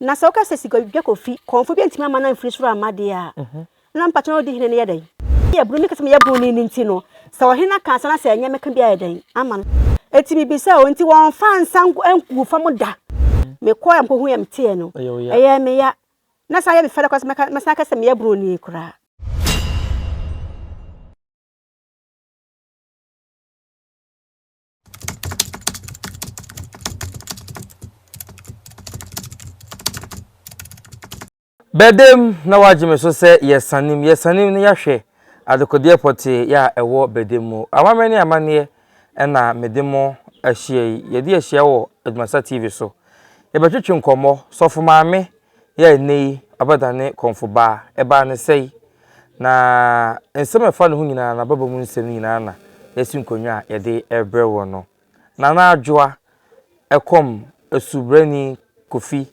Na sɛ woka sɛ sika dwa kɔ fi, kɔmfo bi antumi amma no amfiri soro amma deɛ a, na mpakyɛ na ɔdi hene no yɛ dɛn? Yɛ bunu, meka sɛ meyɛ bunu ni no nti no, sɛ ɔhene aka ansa na sɛ ɛnyɛ meka bi ayɛ dɛn ama no? Enti mebisa o, enti wɔmfa nsa ngu fam da? Mekɔɔ yɛ mekɔhuu yɛ meteɛ no, ɛyɛɛ me ya. Na san yɛ me fɛ dɛ koraa sɛ mɛsan aka sɛ meyɛ bunu ni koraa. Bɛdam na wagye me so sɛ yɛsanem, yɛsanem na yɛahwɛ adekodeɛ pɔtee yɛ a ɛwɔ Bɛdam mu. Amammerɛ ne amanneɛ na mede mo ahyia yi. Yɛde ahyia wɔ Adwumasa TV so. Yɛbɛtwetwe nkɔmmɔ. Sɔfo Maame Yɛ a nnɛyi abɛdane kɔmfobaa, ɛbaa no sɛe, na nsɛm a ɛfa ne ho nyinaa, n'ababa mu nsɛm no nyinaa na yɛasi nkonnwa a yɛde rebrɛ wo no. Nana Adwoa, ɛkɔm asubrani Kofi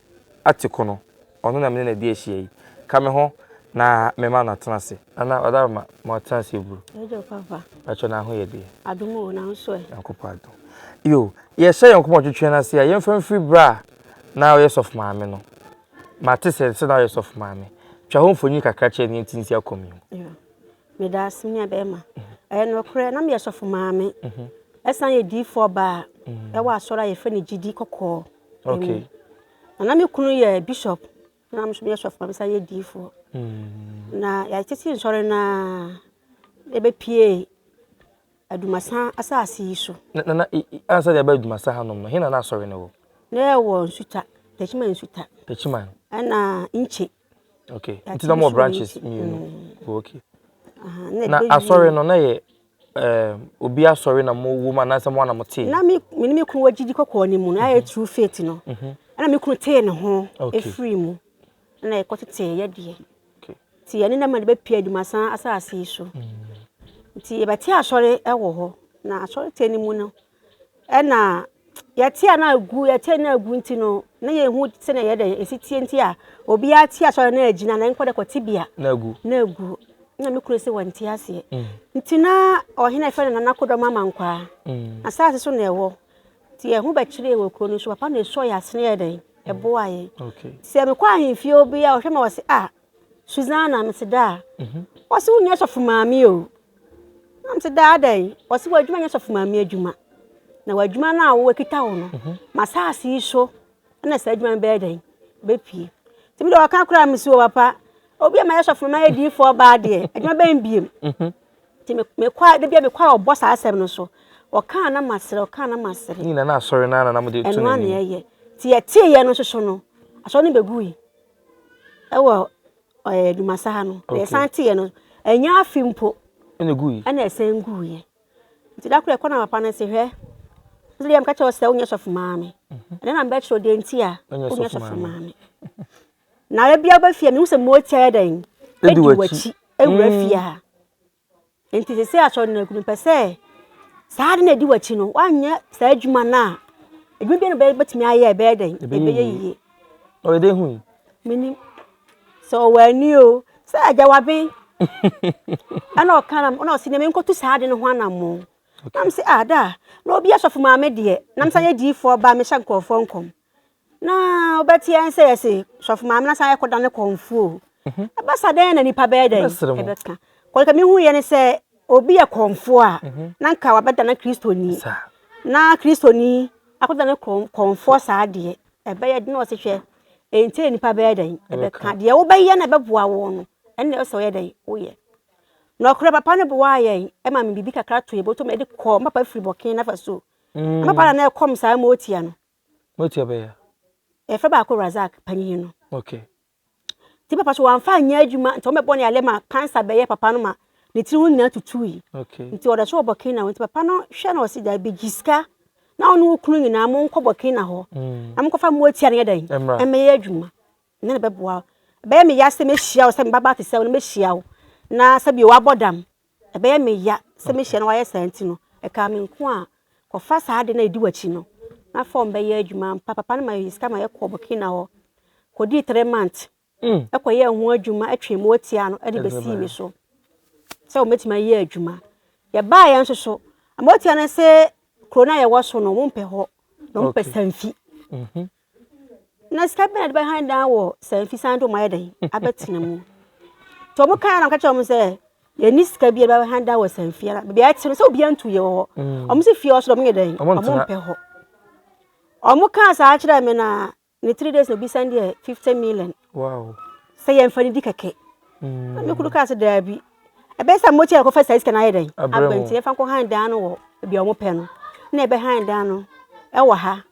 Atekono, ɔno na me ne no adi ahyia yi. Ka me ho na memma no atena ase. Nana, ɔda ma ma ɔtena ase buru. Ɛdwo papa. Bɛkyɛ na ho yɛ deɛ. Adom o, na nso ɛ. Nyankopɔn adom. Yo, yɛhyɛ yɛn nkɔmɔ twetwe no ase a, yɛmfa mfiri berɛ a. na ɔyɛ sɔfo maame no. Mate sɛ sɛ na ɔyɛ sɔfo maame. Twa ho mfonyin kakra kyerɛ nea nti nsi akɔm yi mu. Meda ase me nua bɛrima. Ɛyɛ nokorɛ na meyɛ sɔfo maame. Ɛsan yɛ diifoɔ baa ɛwɔ asɔre a yɛfrɛ no gyidi kɔkɔɔ mu. Na na me kunu yɛ bishop. Na meso meyɛ sɔfo na mesan yɛ diifoɔ. Mm. Na yɛtete nsɔre no a ɛbɛpie Adumasa asase yi so. Na na ansa deɛ ɛbɛ Adumasa ha nom no, hena na asɔre no wɔ? Na ɛwɔ Nsuta, Tachiman Nsuta. Tachiman. Ɛna Nkye. Okay. Nti na mo branches mmienu. Mm. Oh, okay. Na asɔre no na yɛ um, obi asɔre na mowɔ mu anaasɛ mo a na mote? Na me me ne me kunu wɔ gyidi kɔkɔɔ no mu, na ayɛ true faith no. Ɛna me kunu tee ne ho firii mu, ɛna yɛkɔtetee yɛ deɛ. Nti yɛne na ma de bɛpie adumasan asase yi so. Nti yɛbɛte asɔre wɔ hɔ, na asɔre tee no mu no, Ɛna yɛte a na agu yɛte na agu nti no na yɛhu sɛ na yɛde ɛsi tie nti a obiara te asɔre na agyina na nkɔ dɛ kɔte bia na agu na agu na me kunu sɛ wɔnte aseɛ mm. nti na ɔhene ɛfɛ no nana kodɔm ama nkwaa mm. asase so na ɛwɔ nti ɛho bɛkyeree wɔ kuro no so papa na ɛsɔ yɛ asene yɛ dɛn ɛboa yɛ sɛ mekɔ ahemfie obi a ɔhwɛ ma ɔse a ah, Susanna, mese daa. Ɔse wo nyɛ sɔfo maame o. Na mese daa dɛn? Ɔse w'adwuma nyɛ sɔfo maame adwuma. Na w'adwuma no a wowakita wo no, mhm. masaase yi so na saa adwuma no bɛyɛ dɛn? Bɛpie. Nti mede ɔka koraa mese wɔ papa, obi a mayɛ sɔfo ma yɛ diifoɔ baa deɛ, adwuma bɛn biem. Mhm. Nti mekɔa, da bia mekɔa ɔbɔ saa asɛm no so. Ɔkaa na masere, ɔkaa na masere. Nyina na asɔre no ara na mode to n'anim. Ɛno a na yɛyɛ. Nti yɛteeɛ no nso so no, asɔre no bɛgui. ɛwɔ ɛɛ Dumasa ha no na yɛsan teeɛ no ɛnyɛ afe mpo ɛna ɛguiɛ ɛna ɛsan guiɛ nti da koro ɛkɔ na papa no se hwɛ ɛsɛ deɛ meka kyerɛ sɛ wonyɛ sɔfo maame mhm. ɛna na mbɛkyerɛ deɛ nti a wonyɛ sɔfo maame na ɛbia wobɛfie a mehu sɛ mmɔɔ tiaɛ dɛn ɛdi wakyi ɛwura mhm. fie ha Enti seesei asɔredaakuru no, mepɛ sɛ saa ade no a ɛdi w'akyi no, woanyɛ saa adwuma no a, adwuma biara na wobɛyɛ wobɛtumi ayɛ a, ɛbɛyɛ dɛn? Ɛbɛyɛ yie. Ɔyɛ dɛn hui? Menim. Sɛ ɔwɔ ani o, sɛ agya waben. Ɛna ɔka na ɛna ɔsi na menkɔtu saa ade no ho anammɔn. Na mese ah daa, na obi asɔfo maame deɛ, na mesan yɛ diifoɔ ba a mehyɛ nkurɔfoɔ nkɔm. Na wobɛte yɛn sɛ yɛse sɔfo maame na san yɛkɔ da ne kɔnfo o. Mhm. Ɛbɛsa dɛn na nipa bɛyɛ dɛn? Ɛbɛka. Kɔlika mi hu yɛ ne sɛ obi yɛ kɔnfo a mhm. na nka wabɛda na kristoni. Na kristoni akɔda ne kɔnfo saa deɛ ɛbɛyɛ den na ɔse hwɛ. Enti na nipa bɛyɛ dɛn? Ɛbɛka. Deɛ wobɛyɛ na ɛbɛboa wo no. Ɛnna ɛsɛ ɔyɛ dɛn? Woyɛ. Na ɔkora papa no boa yɛn ɛma me biribi kakra to yɛ bɔtɔ mu ɛde kɔ papa firi bɔkee nafa so. Mm. Papa na na ɛkɔm saa ma otia no. Moatua bɛyɛ a. Yɛfrɛ baako Razak, panyin no. Okay. Nti papa so wɔamfa anyɛ adwuma nti wɔbɛbɔ ne alɛ ma cancer bɛyɛ papa no ma ne tiri ho nyinaa tutui. Okay. Nti ɔda so wɔ Burkina hɔ nti papa no hwɛ na ɔsi daabi gye sika na ɔne wo kunu nyinaa monkɔ Burkina hɔ mm. na monkɔfa moatua no yɛ dɛn ɛmmɛyɛ adwuma. Me na mɛboa wo. Ɛbɛyɛ me ya sɛ mɛhyia wo, sɛ mmabaa te sɛ wo no mɛhyia wo, na sɛdeɛ woabɔ dam. Ɛbɛyɛ me ya sɛ mɛhyia na woayɛ saa nti no, ɛkaa me nko a, kɔfa saa ade no a ɛdi w'akyi no, na fa wɔn bɛyɛ adwuma. Ampa, papa no maa yɛn sika ma yɛkɔɔ Burkina hɔ kɔdii three months kɔyɛɛ ho adwuma, twee moatia no de bɛsii me so sɛ wɔbɛtumi ayɛ adwuma. Yɛbaeɛ nso so, moatia no se kuro no a yɛwɔ so no, wɔmpɛ hɔ, na wɔmpɛ sanfi. Na sika bɛn na de bɛhan dan wɔ saa mfi san de wɔn ayɛ dɛn abɛtena mu nti wɔn kan na wɔka kyerɛ wɔn sɛ yɛni sika bi a de bɛhan dan wɔ saa mfi ara baabi a ɛte no sɛ obiara ntu yɛ wɔ hɔ mm. wɔn si fie ɔso dɛ wɔn yɛ dɛn wɔn mpɛ hɔ wɔn kan saa kyerɛ mi na ne three days na obi sɛn deɛ fifty million sɛ yɛn fa ne di kɛkɛ na mi kuru kaa sɛ daabi ɛbɛyɛ sɛ mo ti yɛ kɔfɛ saa sika na ayɛ dɛn abɛnti yɛfa nkɔ han dan no wɔ baabi a wɔn pɛ no na ɛbɛ han dan no ɛwɔ ha.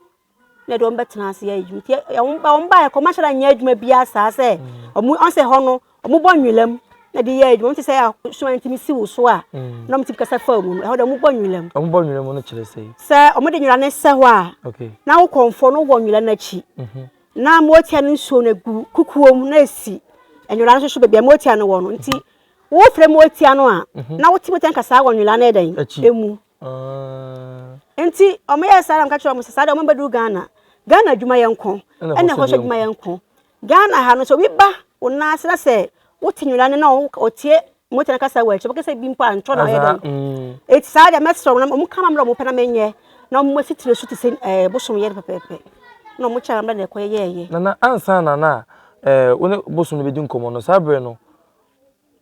na ɛde wɔn bɛtena ase ayɛ adwuma nti wɔn ba wɔn baeɛ kɔ wɔn ahyɛda nyɛ adwuma biara saa sɛ wɔn ɔn sɛ hɔ no wɔn bɔ nwilam na de yɛ adwuma wɔn te sɛ asoa nti mi si wo so a mm. na wɔn ti kasa fa mu no ɛhɔ de wɔn bɔ nwilam. wɔn bɔ nwilam no kyerɛ sɛ. sɛ wɔn de nwira ne sɛ hɔ a na wo kɔnfɔ no wɔ nwira n'akyi mhm. na motia no nsuo no gu kukuo mu na esi nwira no soso beebi a motia no wɔ no nti wofrɛ motia no a mhm. na wote motia nkasa wɔ nwira no ɛdɛn emu. Nti ɔmo yɛ saa na ɔmo ka kyerɛ ɔmo sɛ saa deɛ ɔmo bɛ du Ghana. Ghana adwuma yɛ nko. Ɛna ɛhɔ so adwuma yɛ nko. Ghana ha no sɛ obi ba wo nan ase na sɛ wo te nwera ne na ɔtie mmotan kasa wɔ akyi ɔbɛka sɛ bi mpo a ntɔ na ɔyɛ dɛn. Eti saa deɛ mɛsrɛ ɔmo na ɔmo nka ma mmra ɔmo pɛ na menyɛ na ɔmo asi tiri so te sɛ ɛɛ bosom yɛ no pɛpɛɛpɛ. Na ɔmo kyɛ na mmra na ɛkɔ yɛ yɛɛyɛ. Nana ansa na na ɛɛ wo ne bosom no bɛ di nkɔmɔ no saa bere no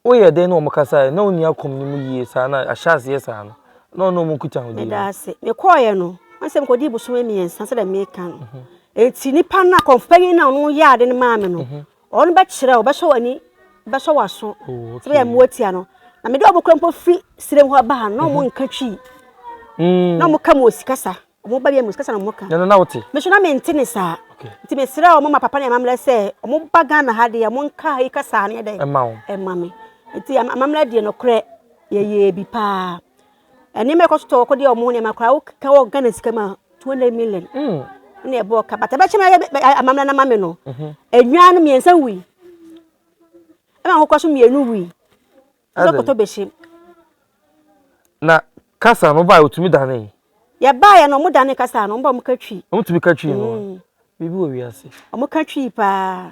Woyɛ dɛn ne wɔn kasae? Ná onni akɔm no mu yiye saa na ahyɛ ase yɛ saa no, na ɔne wɔn nkutahodie no. Meda ase. Mekɔeɛ no, na sɛ mekɔdii bosome mmiɛnsa sɛdeɛ meka no. Enti nipa no, akɔmfo panyin no a ɔno yɛɛ ade no maa me no, ɔno bɛkyerɛ wo, ɔbɛsɔ w'ani, ɔbɛsɔ w'aso, sɛdeɛ ɛbɛyɛ a moatia no. Na mede wɔn kura mpo firi serem hɔ ba ha no, na wɔnka Twi, na wɔka Mosi kasa. Wɔn ba biara mu kasa na wɔka. Ɛno na wote? Me nso na mente ne saa. Okay. Nti mesrɛ wɔn ma papa ne amammerɛ sɛ wɔn ba Ghana ha deɛ wɔn nka ha yi kasa ne yɛ dɛ. Ɛma wɔn. Ɛma me. Nti amammerɛ deɛ nokorɛ yɛyɛ bi paa. Nneɛma ɛkɔ so tɔ wɔkɔ deɛ wɔn nneɛma koraa woka wɔ Ghana sika mu a 200 million. Mm. Ne ɛbɔ ɔka bata bɛkyɛ me ayɛ amammerɛ na ma me no. Enwaa no mmiɛnsa wui. Ɛma akokɔ so mmienu wui. Wobɛkɔtɔ bɛhyɛ mu. Na kasa no baeɛ wɔtumi danee. Yɛbaeɛ no wɔdanee kasa no, wɔn ba wɔka twi. Wɔtumi ka twi no a, mm. biribi wɔ wiase. Wɔka twi paa.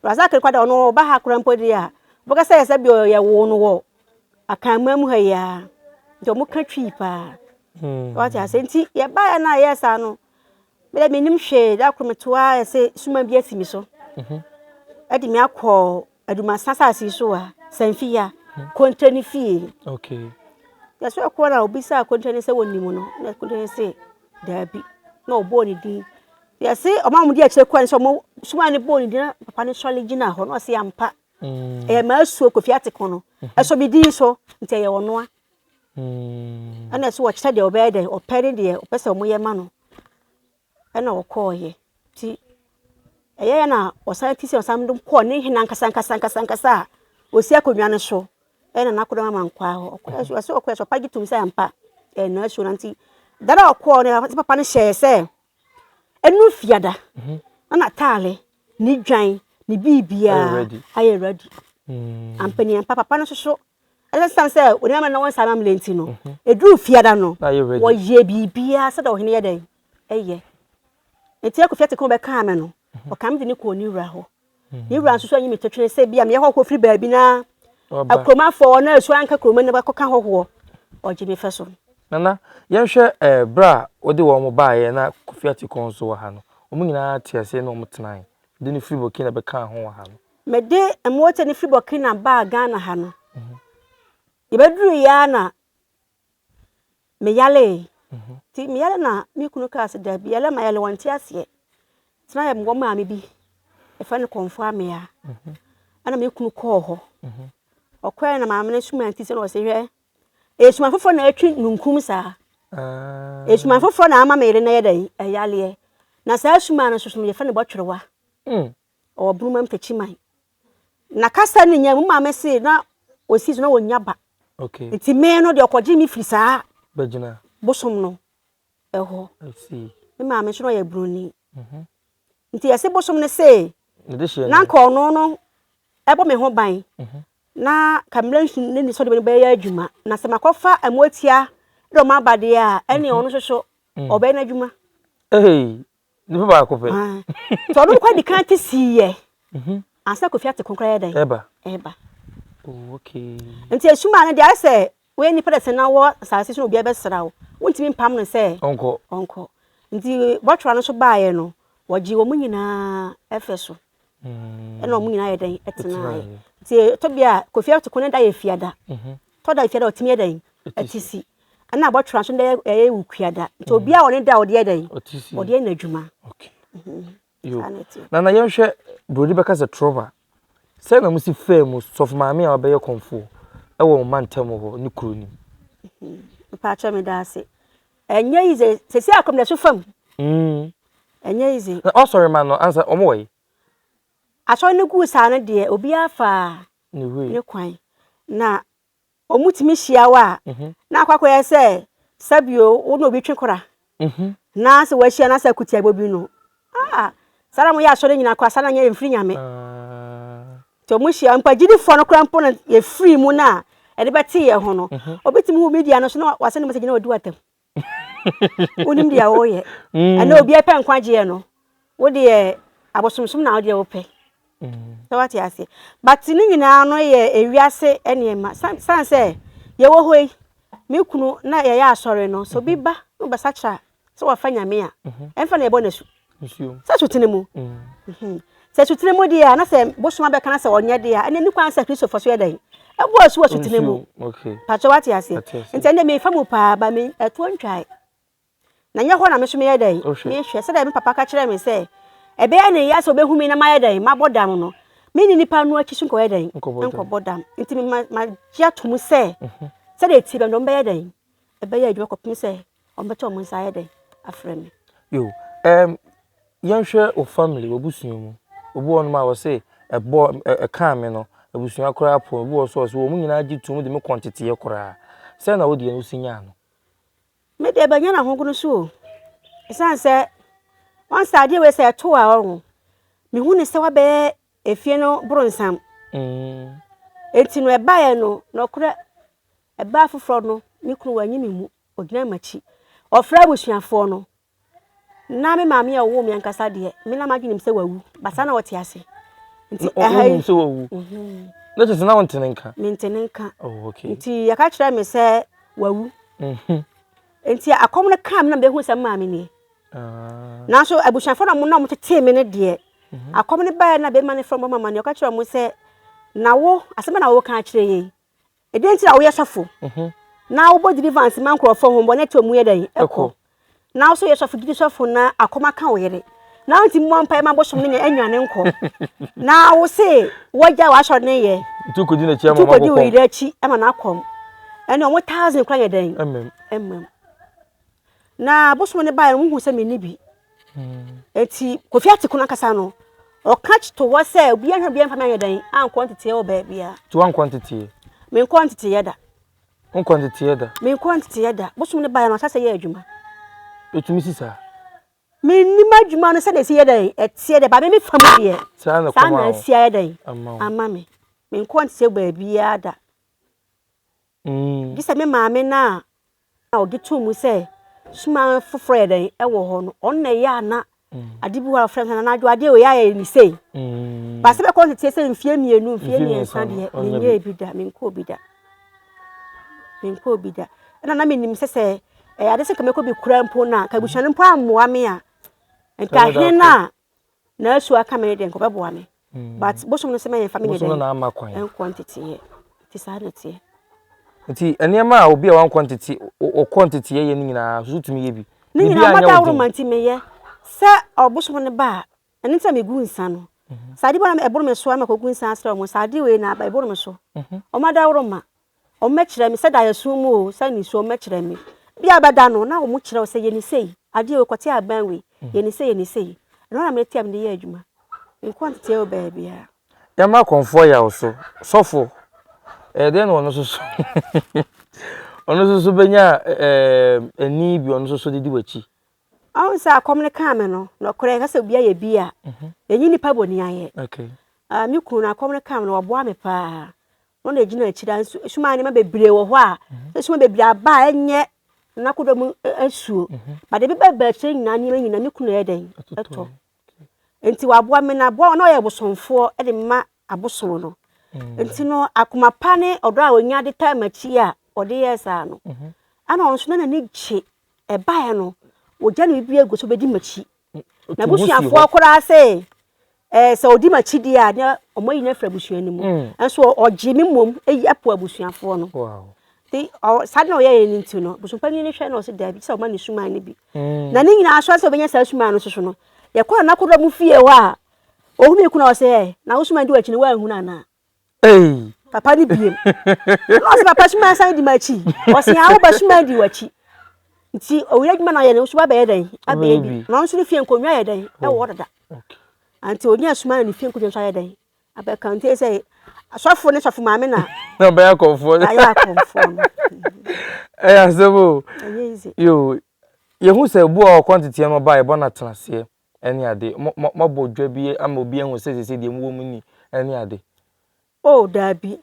Razak no kwada ɔno ɔba ha koraa mpo deɛ a, wɔbɛka sɛ sɛ bi yɛwoo no wɔ akanman mu ha yi ara. Nti wɔka twi paa. Hmm. Wɔte ase nti yɛbaeɛ no a yɛɛ saa no, Me deɛ menim hwee, da koro meto ara ayɛ sɛ suma bi asi me so ɛde me akɔ adumasan asase yi so a sanfi ya kontra ne fie yɛsɛ ɛkɔ na obi sɛ kontra ne sɛ wɔnim no na kontra ne sɛ daabi na ɔbɔɔ ne din yɛse ɔma mo de akyire kɔɛ sɛ ɔmo suma ne bɔɔ ne din na papa ne sɔre gyina hɔ na ɔse ampa ɛyɛ maa suo kofi ate kɔn no ɛsɔ me din so nti ɛyɛ ɔnoa Ɛna nso ɔkyerɛ deɛ ɔbɛyɛ dɛ ɔpɛ ne deɛ ɔpɛ sɛ wɔyɛ ma no ɛna ɔkɔeɛ nti ɛyɛyɛ na ɔsan te sɛ ɔsan de kɔɔ ne hene ankasa ankasa ankasa ankasa a ɔsi akonnwa no so ɛna n'akodɔm ama nkɔaa hɔ ɔkɔɛ nso ɛsɛ ɔkɔɛ nso papa gye tom sɛ ampa ɛyɛ nasuo no nti da no a ɔkɔɔ no ɛsɛ papa no hyɛɛ sɛ ɛnu fiada na n'ataale ne dwan ne biribiaa ayɛ ready ampa ni ampa papa no nso so Esiane sɛ Onii Amane na wɔn nsa amammerɛ nti no, eduu Fiada no, wɔyɛɛ biribiara sɛdeɛ ɔhene yɛ dɛn? Ɛyɛ. Enti Aku Fiateke ho bɛkaa me no, ɔkaa me de me kɔɔ ne wura hɔ. Ne wura nso so anyi me totwene sɛ bi a meyɛ hɔhoɔ firi baabi na akuromafoɔ na asuo anka kurom na bɛkɔka hɔhoɔ. Ɔgye me fɛ so. Nana, yɛnhwɛ eh, berɛ a wode wɔn baeɛ na Kofi Atekong nso wɔ ha no, wɔn nyinaa te aseɛ na wɔtenae. Wode no firi Burkina bɛkaa ho wɔ ha no. Mede mmoakyɛ no firi Burkina baa Ghana ha no, yɛbɛduruiɛ ara na meyaree. Nti meyare na me kunu kaa sɛ daabi yare ma yare wɔnte aseɛ. Nti na yɛwɔ maame bi, yɛfrɛ no Kɔmfo Amea. Ɛna me kunu kɔɔ hɔ. Ɔkɔɛ na maame no suma nti sɛ na ɔsɛ hwɛ. Esuma foforɔ na atwi nunkum saa. Esuma foforɔ na ama me yere na yɛ dɛn ɛyareɛ. Na saa suma no soso no yɛfrɛ no bɔtwerewa. Ɔwɔ Bruma Mpekyiman. Na kasa no nya mu maame se na ɔsi so na wɔnya ba. Okay. Nti me no deɛ ɔkɔgye me firi saa. Bɛgyina. Bosom no ɛhɔ. I see. Me maame nso na ɔyɛ Broni. Mhm. Nti yɛse bosom no se. Ne de hyɛ. Na nka ɔno no ɛbɔ me ho ban. Mhm. Na ka mmerɛ nsu ne ne sɔde bɛyɛ adwuma. Na sɛ makɔfa ɛmotia de ɔmo aba deɛ a ɛne ɔno nso so ɔbɛyɛ n'adwuma. Hey, Nipa baako pɛ. Nti ɔno nkwa di kan te sii yɛ. Mhm. Ansa kofi ate konkra yɛ dɛn. Ɛba. Ɛba. Oh okay. Nti esuma no de ayɛ sɛ woyɛ nipa dɛsɛ na wɔ asase so na obiara bɛsra wo. Wontumi mpam no sɛ. Ɔnkɔ. Ɔnkɔ. Nti bɔtwera no so baayɛ no wɔgye wɔn nyinaa ɛfɛ so. ɛna wɔn nyinaa yɛ dɛn ɛtenaeɛ nti ɛtɔ bi a kofi ato kɔn ne da yɛ fiada tɔ da fiada ɔtumi yɛ dɛn ɛte si ɛna abɔtwera nso dɛ ɛyɛ ewu kuada nti obi a ɔne da ɔde yɛ dɛn ɔde yɛ n'adwuma. na na yɛnhwɛ buroni bɛka sɛ trɔva sɛ na mo si fɛɛ mu sɔfo maame a ɔbɛyɛ kɔnfoɔ ɛwɔ wɔn mantam hɔ ne kuro nim. mpaakyɛ me da ase Ɛnyɛ yize sɛsi akomdaso fam. Ɛnyɛ yize. Na ɔsɔre ma no ansa wɔn wɔ yi. Asɔre no guu saa no deɛ obiara faa ne kwan na wɔn tumi hyia wɔ a na akɔ akɔyɛ sɛ sɛbio wo na obi twe kora na sɛ wɔahyia na sɛ akutiabɔ bi no Ah saa na ɔmo yɛ asɔre nyina koraa saa na nyɛ yɛnfiri nyame nti ɔmo hyia mpo agyidifoɔ no koraa mpo no yɛfiri mu no a ɛde bɛte yɛ ho no obi tumi hu media no so na wasɛne message na wadi watam wonim deɛ woyɛ ɛnɛ obiara pɛ nkwagyeɛ no wodeɛ abosomsom na wodeɛ wopɛ sɛ wate aseɛ but ne nyinaa no yɛ ewiase nneɛma san sɛ yɛwɔ hɔ yi me kunu na yɛyɛ asɔre no so bi ba na ɔbɛsakyera sɛ wafa nyame a ɛmfa na ɛbɔ no asu sɛ asutene mu sɛ asutene mu deɛ a na sɛ bosom abɛka na sɛ ɔnyɛ deɛ a ɛnɛ ne kwan sɛ kristofo so yɛ dɛn ɛbɔ asu wɔ asutene mu patwɛ wate aseɛ nti ɛnɛ mefa mu paa ba me ɛtoɔ ntwae na nyɛ hɔ na me so meyɛ dɛn mehwɛ sɛdeɛ me papa ka kyerɛ me sɛ ɛbɛyɛ ne yɛ sɛ ɔbɛhu me na mayɛ dɛn mabɔ dam no mene nipa no akyi so nkɔyɛ dɛn nkɔbɔ dam nti magye atom sɛ sɛdeɛ ɛtie bɛndɔm bɛyɛ dɛn ɛbɛyɛ adwuma kɔpem sɛ Wɔbɛto wɔn nsa ayɛ dɛn afrɛ me? Yo, um, yɛnhwɛ wɔ family, w'abusua mu. Obi wɔ nom a wɔse ɛbɔ ɛkaa me no, abusua koraa po. Obi wɔ so ɔse wɔn nyinaa gye tum de me kɔ nteteɛ koraa. Sɛ na wodeɛ no si nyaa no? Me deɛ bɛnyɛ na ho no so o. Ɛsan sɛ wɔn sɛ adeɛ wei sɛ ɛto a ɔho. Me hu ne sɛ wabɛyɛ efie no bronsam. Mm. Eti no ɛbaeɛ no nɔkorɛ ɛbaa foforɔ no me kunu wɔanyi me mu. Ɔgyinaa m'akyi. Ɔfrɛɛ abusuafoɔ no. Na me maame a ɔwoo me ankasa deɛ, me na m'adwene nim sɛ wawu. But saa na ɔte ase. Nti ɛha yi. Ɔnim sɛ wawu. Na kyerɛ sɛ na ɔnte ne nka. Mente ne nka. Oh, okay. Nti yɛka kyerɛ me sɛ wawu. Mhm. Nti akɔm no kaa me na mehu sɛ maame nie. Ah. Nanso abusuafoɔ na wɔn na wɔtetee me no deɛ. Mhm. Akɔm no baeɛ na bɛma no frɛ wɔn bɛma ma no. Ɔka kyerɛ wɔn sɛ, na wo, asɛm na wɔka akyerɛ yei. ɛdeɛ nti na woyɛ sɔfo mhm. na wobɔ deliverance ma nkurɔfoɔ ho bɔne to mu yɛ dɛn ɛkɔ na wosɛ yɛ sɔfo gyidi sɔfo na akɔma ka wo yere na wonti mmɔ mpae ma bosom no nya anwane nkɔ na wo se wɔgya w'asɔre ne yɛ ntukɔdi wo yere akyi ma no akɔm ɛne ɔmo thousand kora yɛ dɛn ɛmmam Na bosom no baeɛ no, wohuu sɛ menni bi. Enti Kofi ate kono ankasa no, ɔka to hɔ sɛ obiara hwɛ obiara mfa me anyɛ dɛn ankɔ nteteɛ wɔ baabiara. Nti woankɔ nteteɛ? Menkɔ nteteɛ da. Wonkɔ nteteɛ da? Menkɔ nteteɛ da. Bosom no baeɛ no, ɔhyɛ sɛ yɛ adwuma. Ɛtumi si saa? Mennim adwuma no sɛdeɛ ɛsi yɛ dɛn ɛteɛ deɛ, ba me me fa mu deɛ, saa na asi ayɛ dɛn ama me. Menkɔ nteteɛ baabiara da. Gye sɛ me maame no a. a ɔgye to mu sɛ suma foforɔ yɛ dɛn ɛwɔ hɔ no ɔno na ɛyɛ a na ade bi hɔ a wɔfrɛ no sɛ n'adwo adeɛ wei ayɛ ne sei baasa bɛkɔ nteteɛ sɛ mfie mmienu mfie mmiɛnsa deɛ menyɛ bi da menkɔɔ bi da menkɔɔ bi da ɛna na menim sɛ sɛ ɛyɛ ade sɛ nka mɛkɔ bi kura mpo no a nka abusua no mpo ammoa me a nka hene no a na asu aka me de nkɔbɛboa me mm. but bosom no sɛ ma yɛmfa me ne dɛn ɛnkɔ nteteeɛ nti saa na ɛteɛ nti nneɛma a obi a wankɔ ntete ɔkɔ nteteeɛ yɛ no nyinaa so tumi yɛ bi ne nyinaa mada woro ma nti meyɛ sɛ ɔbosom no ba a ɛno nti na megu nsa no mhm. saa ade bɔ na ɛboro me so ama kɔgu nsa asrɛ ɔmo saa ade wei na aba ɛboro me so mhm. ɔmo ada woro ma Wɔbɛkyerɛ me sɛ da yɛ sum mu o, sɛ nisuo wɔbɛkyerɛ me. Bi a bɛda no na wɔn kyerɛ wo sɛ yɛ ne sei, adeɛ wei kɔte abɛn wei, yɛ ne sei yɛ ne sei. Ɛno na mete a mede yɛ adwuma. Menkɔ nteteɛ wɔ baabiara. Yɛmma kɔmfoɔ yaw so. Sɔfo, ɛyɛ dɛn na ɔno nso so ɔno nso so bɛnya ɛɛ ani bi ɔno nso so de di w'akyi? Ɔn sɛ akɔm no kaa me no, nɔkorɛ yɛka sɛ obi ayɛ bi a, yɛnyi nipa bɔni ayɛ. Okay. Ah, me kunu no akɔm no kaa me no, ɔboa me paa. Wɔn na egyina akyire a nsu sum a nneɛma bebree wɔ hɔ a esum bebree aba a ɛnyɛ n'akodɔm asuo but ebi bɛ ba akyire nyinaa nneɛma nyinaa ne kunu na ɛyɛ dɛn ɛtɔ nti waboa me na aboa wɔn na ɔyɛ bosomfoɔ ɛde ma abosom no nti no akoma pa ne ɔdɔ a onya de taa m'akyi a ɔde yɛ saa no ɛna ɔno nso na n'ani gye ɛbaeɛ no ogya ne biribi egu so bedi m'akyi N'abusuafoɔ koraa se ɛɛ sɛ ɔdi m'akyidie a na wɔn ayi no afiri abusua no mu. Nso mm. ɔgye me mmom ayi apo abusuafoɔ no. Nti saa na ɔyɛeɛ no nti no bosompanin no hwɛ na ɔse daabi sɛ ɔma ne suman no bi. Mm. Na ne nyinaa so sɛ ɔbɛnya saa suman no soso no yɛkɔɔ n'akodɔm fie hɔ a ɔhunu kuna ɔsɛ ɛ na wo suman di w'akyi no woanhunu anaa. Ei. Papa ne biem. Ɛna ɔsɛ papa suma san di m'akyi. Ɔsɛ awo ba suma di w'akyi. Nti owia adwuma na ɔyɛ no nso wabɛyɛ dɛn? Abɛyɛ bi. Na nso ne fie nkonnwa yɛ dɛn? Ɛwɔ hɔ dada. Nti onya suma na ne fie nkonnwa nso ayɛ dɛn? Abɛka nti sɛ asɔfo ne sɔfo maame na. Na ɔbɛyɛ akɔmfoɔ. Ayɛ akɔmfoɔ no. Ɛyɛ asɛm o. Ɛyɛ easy. Yo, yɛhu sɛ bu a ɔkɔ nteteɛ no ɔbaa yɛbɔ no atenaseɛ. Ɛne ade. Mo, mo, moabɔ dwa bi ama obi ahu sɛ sese deɛ mowɔ mu ni. Ɛne ade. Oh, daabi.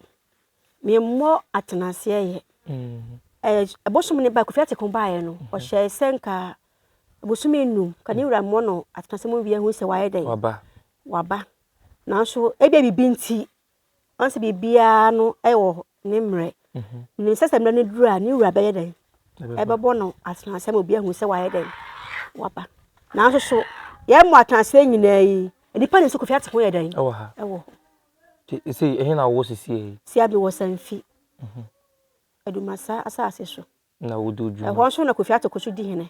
Memmɔ atenaseɛ yɛ. Mm. Ɛɛ, ɛbosom ne ba, Kofi Ateko baeɛ no, mm-hmm. ɔhyɛɛ sɛ nka bosome num, ka ne wura mmɔ no atenaseɛ mu wie ahu sɛ wayɛ dɛn. Waba. Waba. Nanso, ebia biribi nti, Ɔse biribiara no wɔ ne mmerɛ. Nim sɛ sɛ mmerɛ no duru a ne wura bɛyɛ dɛn? Ɛbɛbɔ no atenase ama obi ahu sɛ wayɛ dɛn? Waba. Nanso so yɛn mu atenase nyinaa yi, nnipa nim sɛ Kofi Ate ho yɛ dɛn? Ɛwɔ ha. Ɛwɔ hɔ. Nti ɛsɛ yi, ɛhe na wowɔ sesie yi? Sia bi wɔ Sanfi. Mhm. Adumasa asase so. Na wodi odwuma. Ɛhɔ nso na Kofi Ate kɔ so di hene.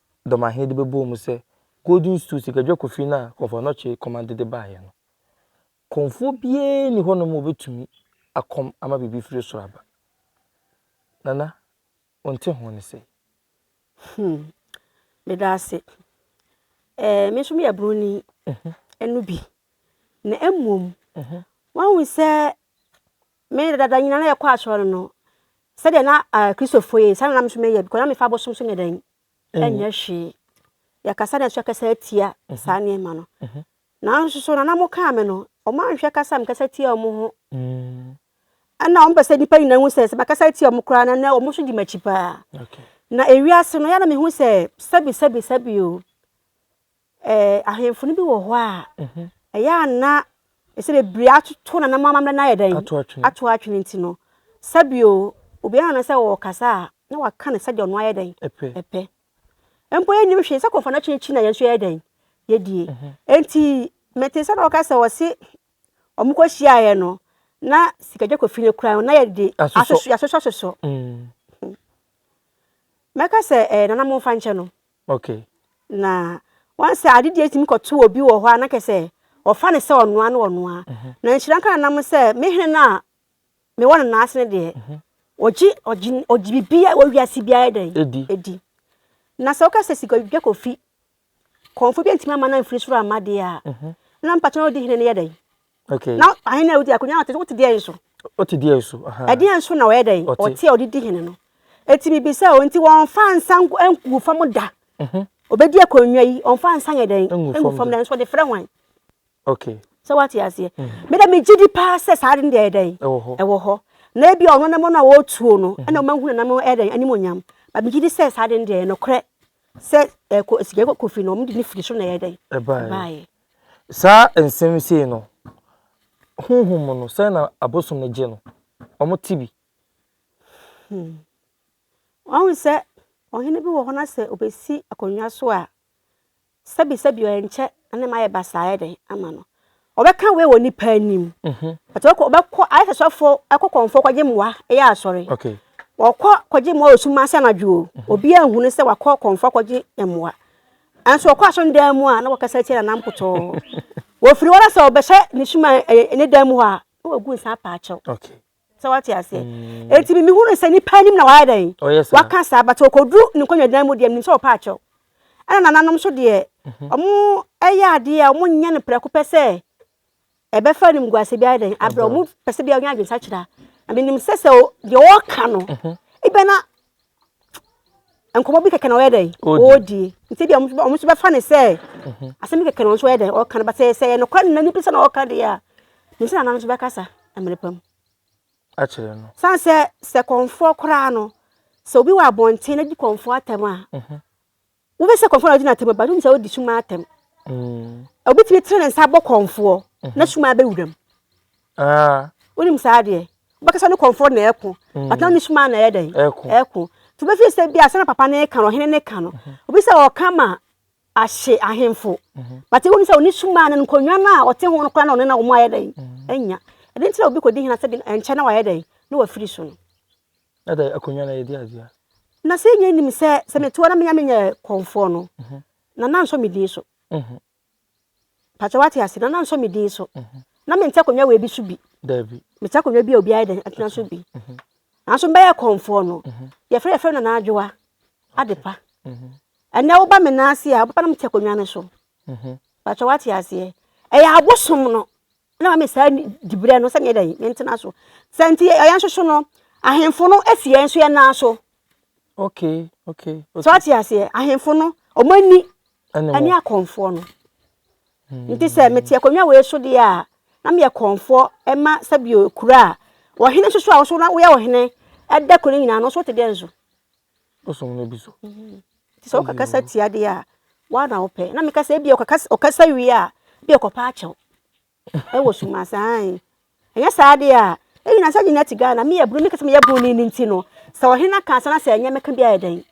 dɔm ahe de bɛbɔɔ mu sɛ Golden Stool sikadwa kofi no a Kɔmfoɔ Anokye Komande de baeɛ no. Kɔmfoɔ biara nni hɔnom a ɔbɛtumi akɔm ama biribi firi soro aba. Nana, wonte ho ne sɛi? Hmm, meda ase. Ɛɛ, me nso meyɛ buroni mhm. ɛno bi. Na mmom, mhm. wahu sɛ Me de, dada nyina na yɛkɔ asɔr no no, sɛdeɛ na Kristofo yɛ yi, saa na na me nso meyɛ, because na mefa abosom so nyɛ dɛn? nyɛ hwee. Yɛkasa na yɛn nso yɛkasa tia saa nneɛma no. Nanso so, nana mo kaa me no, wɔanhwɛ kasa a mekasa tia wɔn ho. Ɛna wɔpɛ sɛ nnipa nyinaa hu sɛ, sɛ makasa tia wɔn koraa no, ɛnɛ wɔn nso di m'akyi paa. Na ewiase no, yɛ na mehu sɛ, sɛbi sɛbi sɛbi o. Ɛɛ, ahemfo no bi wɔ hɔ a, ɛyɛ a na ɛsɛ bebree atoto na na wɔn amammerɛ no ayɛ dɛn? Ato atwene. Ato atwene nti no, sɛbio obiara na sɛ ɔrekasa a, na waka no sɛdeɛ ɔno ayɛ dɛn? Ɛpɛ. Ɛpɛ. Mpo yɛnnim hwee sɛ kɔmfana kye akyi na yɛn nso yɛyɛ dɛn? Yɛdie. Enti metee sɛ na wɔka sɛ wɔse wɔkɔhyiaeɛ no, na sikagya kɔfi no koraa no, na yɛde asosɔ asosɔ. Mɛka sɛ ɛɛ nana momfa nkyɛ no. Okay. Na wɔn sɛ ade deɛ tumi kɔto obi wɔ hɔ a na kɛsɛ wɔfa ne sɛ ɔnoa ne ɔnoa na nhyira nka na nam sɛ me hene no a mewɔ no naase no deɛ ɔgye ɔgye ɔgye biribi a wɔwi ase biara dɛ edi edi na sɛ wokasa sika dwa kofi kɔnfo bi ntumi ama na mfiri soro ama deɛ a na mpatwa ɔdi hene no yɛ dɛ Okay. Na ahene a wodi akonya na ɔte so, wote deɛ nso. Wote deɛ nso. Ɛdeɛ nso na ɔyɛ dɛn? Ɔte a ɔde di hene no. Eti bibi sɛ o nti wɔnfa nsa ngu fam da. Mhm. Obedi akonnwa yi, ɔnfa nsa yɛ dɛn? Ngu fam da nso ɔde frɛ hwan? Okay. Sɛ wate aseɛ. Mhm. Me dɛ me gye di paa sɛ saa de no deɛ dɛn? Ɛwɔ hɔ. Ɛwɔ hɔ. Na ebi ɔno ne mo no a wɔtuo no, mhm. ɛna wɔn ahunu nam ɛyɛ dɛn? Anim onyam. Ba me gye di sɛ saa de no deɛ ɛnokorɛ sɛ ɛkɔ sika kofi no wɔn de ne firi so na ɛyɛ dɛn? Ɛbaayɛ. Saa nsɛm yi sei no, honhom mu no, sɛn na abosom no gye no? Wɔte bi. Hmm. Wahu sɛ ɔhene bi wɔ hɔ na sɛ obesi akonnwa so a, sɛbisɛbi ɔnkyɛ na ne ma yɛ basaa yɛ dɛn ama no. Ɔbɛka wei wɔ nipa anim. Mhm. Ati ɔkɔ ɔbɛkɔ ayɛ sɛ sɔfo ɛkɔ kɔnfo kɔgye mmoa ɛyɛ asɔre. Okay. Ɔkɔ kɔgye mmoa osuma sɛ anadwo o. Mhm. Obi anhunu sɛ wakɔ kɔnfo kɔgye mmoa. Nanso ɔkɔ asɔre no dan mu a, na wɔkasa tia Nana Mpotoo. Wɔfiri hɔ na sɛ ɔbɛhyɛ ne suma ɛyɛ ne dan mu hɔ a, na wɔgu nsa apaakyɛw. Okay. Sɛ wate aseɛ. Mm. Eti mi hunu sɛ nipa anim na wayɛ dɛn? Ɔyɛ saa. Waka saa, but ɔkɔduru ne nkonnwa dan mu deɛ, menim sɛ ɔpaakyɛw. Ɛna nananom nso deɛ, wɔn mhm. ɛyɛ adeɛ a wɔnyɛ no prɛko pɛ sɛ ɛbɛfa animguase bi ayɛ dɛn abrɛ wɔn pɛ sɛ bi ɔnyɛ adwensakyera na menim sɛ sɛ deɛ ɔreka no mhm. ebɛ na nkɔmɔ bi kɛkɛ na ɔyɛ dɛn ɔredie nti deɛ wɔn nso bɛfa ne sɛ mhm. asɛm kɛkɛ na wɔn nso ɔyɛ dɛn ɔreka no ba sɛ sɛ yɛ nokora ne nani bi sɛ na ɔreka deɛ a ne nsa nana nso bɛkasa mmerɛ pam akyerɛ no san sɛ sɛ kɔnfoɔ koraa no sɛ obi wɔ abɔnten na di kɔnfoɔ atɛm a mhm. Wobɛ sɛ kɔnfoɔ na ɔgyina atam ba, wonim sɛ ɔdi suma atam. Obi tumi tene ne nsa abɔ kɔnfoɔ na suma abɛ wuram. Wonim saa adeɛ. Wobɛkasa ne kɔnfoɔ na ɛko, but na ɔne suma na ɛyɛ dɛn? Ɛko. Nti wobɛfiri sɛ bi a sɛna papa ne ka no, ɔhene ne ka no. Obi sɛ ɔka ma ahye ahemfo, but wonim sɛ ɔne suma no nkonnwa no a ɔte ho no koraa na ɔne na wɔn ayɛ dɛn? Anya. Ɛde nti na obi kɔdi hene asɛ bi ɛnkyɛ na wayɛ dɛn? Na wafiri so no. Na da akonnwa na yɛde adua. Na sɛ yɛn nim sɛ sɛ mete hɔ na menya menyɛ kɔmfoɔ no, na na nsɔ me din so. Pakyɛ wate ase, na na nsɔ me din so. Na mente akonnwa wei bi so bi. Dabi. Mete akonnwa bi a obi ayɛ dɛn atena so bi. Nanso mbɛyɛ kɔmfoɔ no, yɛfrɛ yɛfrɛ no Nana Adwoa Adepa. Ɛnɛ woba me nan ase a, wobɛba na mete akonnwa no so. Pakyɛ wate aseɛ. Ɛyɛ abosom no. Na ma me saa diberɛ no sɛ meɛ dɛn mentena so sɛ nti yɛn nso so no ahemfo no si yɛn nso yɛn nan so okay okay so ate aseɛ ahemfo no wɔn ani ɛne akɔnfoɔ no hmm. nti sɛ mete akonnwa wei so deɛ a na meyɛ kɔnfoɔ ɛma sɛbi kura a ɔhene nso so a wɔso na woyɛ ɔhene ɛda kuro no nyinaa no nso te dɛn so Bosom no bi so. Mhm. Nti sɛ wokakasa tia deɛ a, woa na wopɛ. Na meka sɛ ebia ɔkakasa ɔkasa wie a, bi ɔkɔpa akyɛw. Ɛwɔ suma saa yi. Ɛnyɛ saa deɛ a, ɛnyina sɛ nyina te Ghana. Me yɛ bro, meka sɛ meyɛ bro ni nti no. Sɛ ɔhene aka asa na sɛ ɛnyɛ mɛka bi ayɛ dɛn?